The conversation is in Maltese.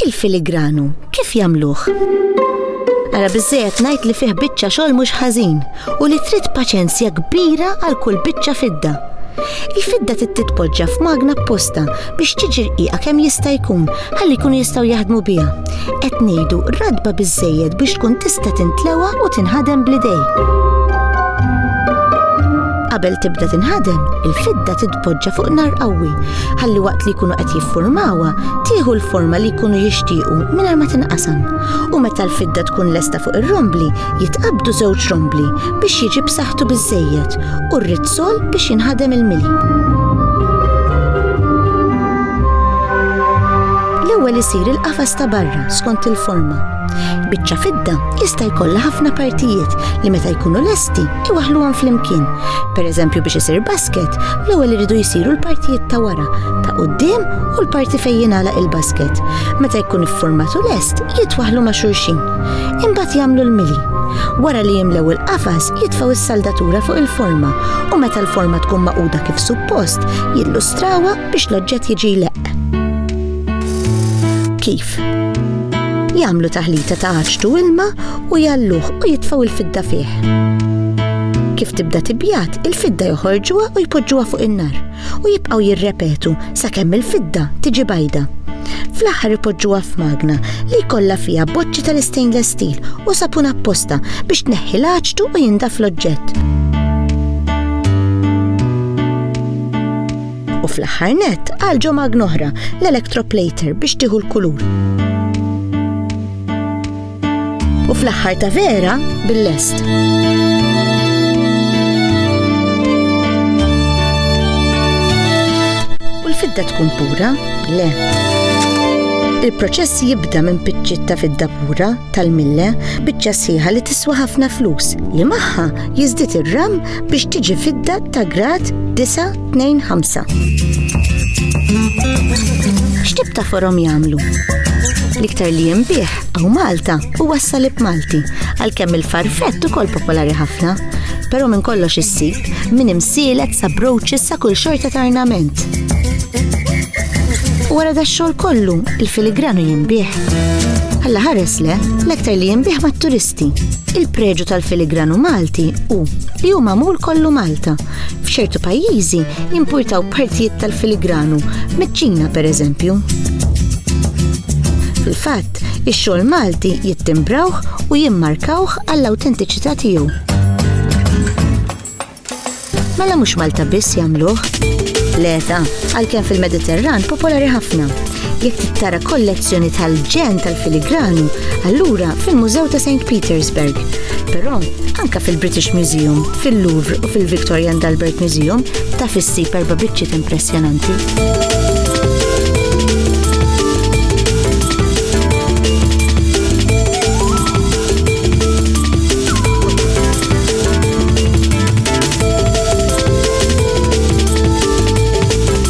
Il-filigranu kif jagħmluh? Ara biżżejjed ngħid li fih biċċa xogħol mhux ħażin u li trid paċenzja kbira għal kull biċċa fidda. Il-fidda titpoġġa f'magna apposta biex tiġi rqiqa kemm jista' jkun ħalli jkunu jistgħu jaħdmu biha. Qed ngħidu radba biżżejjed biex tkun tista' tintlewa u tinħadem bl-idej. Qabel tibda tinħadem, il-fidda titpoġġa fuq nar qawwi, ħalli waqt li jkunu qed jiffurmawha, tieħu l-forma li jkunu jixtiequ mingħajr ma tinqasam. U meta l-fidda tkun lesta fuq ir-rombli, jitqabdu żewġ rombli biex jiġi b'saħħtu biżejjed u r Sol biex jinħadem il-mili. L-ewwel isir il-qafas ta' barra skont il-forma. Biċċa fidda jista' jkollha ħafna partijiet li meta jkunu lesti iwaħluhom flimkien. Pereżempju biex isir basket, l-ewwel iridu jsiru l-partijiet ta' wara, ta' quddiem u l-parti fejn jingħalaq il-basket. Meta jkun iffurmat u lest, jitwaħlu ma' xulxin. Imbagħad jagħmlu l-mili. Wara li jimlew il-qafas, jitfgħu s-saldatura fuq il-forma u meta l-forma tkun magħquda kif suppost, jillustrawha biex l-oġġett jiġi jleqq. Kif? Jagħmlu taħlita ta' għaġtu ilma u jalluh u jitfgħu l-fidda fih. Kif tibda tibjat, il-fidda joħorġuha u jpoġġuha fuq in-nar. u jibqgħu jirrepetu sakemm il-fidda tiġi bajda. Fl-aħħar ipoġġuha f'magna li jkollha fiha boċċi tal-istainless steel u sapun apposta biex tneħħi l-aċtu u jindaf l-oġġett. U fl-aħħar nett għalġu magna oħra, l-electroplater biex tieħu l-kulur. U fl-aħħar ta' vera bil-lest. U l-fidda tkun pura? Le. Il-proċess jibda minn piċċiet ta' fidda pura tal-mille biċċa sħiħa li tiswa ħafna flus li magħha jiżdied ir-ram biex tiġi fidda ta' grad 9 2-5 X'tib ta' forom jagħmlu? L-iktar li jinbih għaw Malta u wassalib Malti, għalkemm il-farfett ukoll popolari ħafna, però minn kollox issib minn imsielet sa broċis sa kull xorta ta' arnament. Wara da xogħol kollu, il-filigranu jinbih. Alla ħares le, l-aktar li jinbih mat-turisti. Il-preġu tal-filigranu Malti u li hu magħmul kollu Malta F'ċertu pajjiżi importaw partijiet tal-filigranu, miċ-Ċina pereżempju. Fil-fatt, ix-xogħol Malti jittimbrawh u jimmarkawh għall-awtentiċità tiegħu. Mela mhux Malta biss jagħmluh? Leta, għalkemm fil-Mediterran popolari ħafna. Jekk trid tara kollezzjoni tal-ġen tal-filigranu, allura fil-Mużew ta' St. Petersburg. Però anka fil-British Museum, fil-Louvre u fil-Victoria and Albert Museum ta' fissib erba' biċċiet impressjonanti.